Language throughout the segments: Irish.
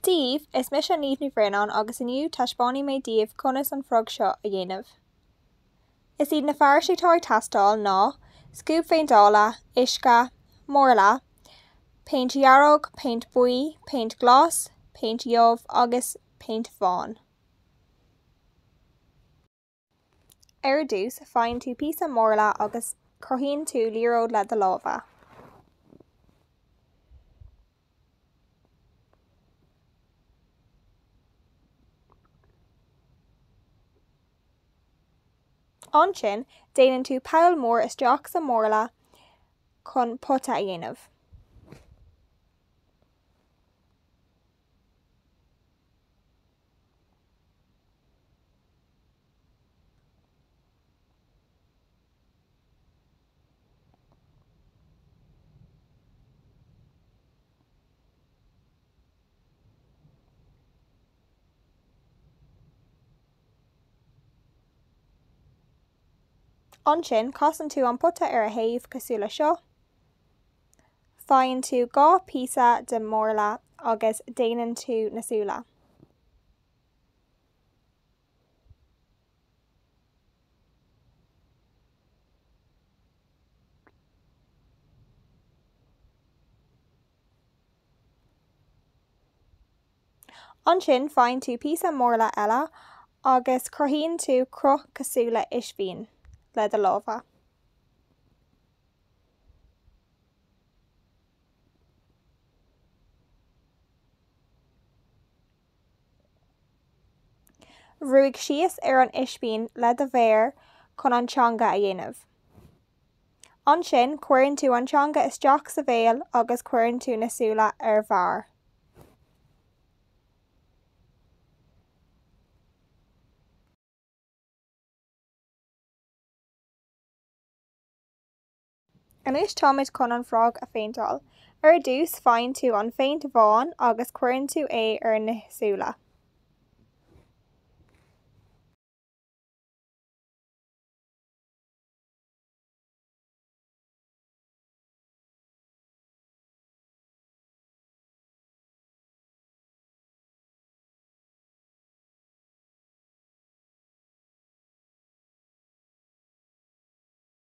daoibh, is mise Niamh Ní Bhraonáin agus inniu taispeánfaidh mé daoibh conas an frog seo a dhéanamh. Is iad na fearais atá ag teastáil ná, scuab phéinteála, uisce, marla, péint dhearg, péint buí, péint glas, péint dhubh agus péint bhán. Ar dtús, faigheann tú píosa marla agus cruthaíonn tú liathróid le do lámha. Ansin, déanann tú poll mór isteach sa mharla chun pota a dhéanamh. Ansin, casann tú an pota ar a thaobh, cosúil le seo. Faigheann tú dhá phíosa de mharla agus déanann tú na súile. Ansin faigheann tú píosa marla eile agus cruthaíonn tú cruth cosúil le ispín le do lámha. Brúigh síos ar an ispín le do mhéar chun an teanga a dhéanamh. Ansin, cuireann tú an teanga isteach sa bhéal agus cuireann tú na súile ar bharr. Anois táimid chun an frog a phéinteáil. Ar dtús faigheann tú an phéint bhán agus cuireann tú é ar na súile.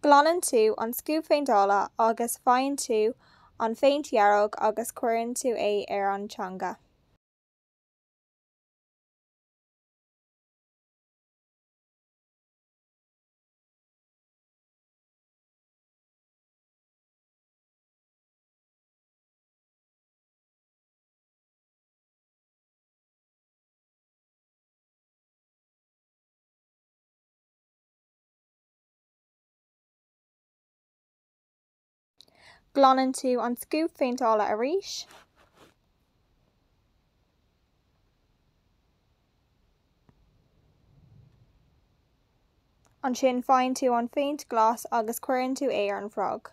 Glanann tú an scuab phéinteála agus faigheann tú an phéint dhearg agus cuireann tú é ar an teanga. Glanann tú an scuab phéinteála arís. Ansin faigheann tú an phéint glas agus cuireann tú é ar an bhfrog.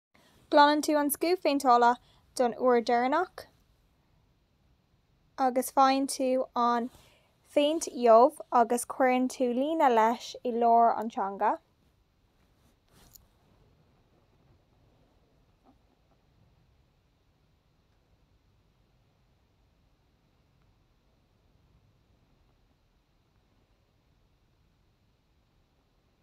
Glanann tú an scuab phéinteála don uair dheireanach agus faigheann tú an phéint dhubh agus cuireann tú líne leis i lár an teanga.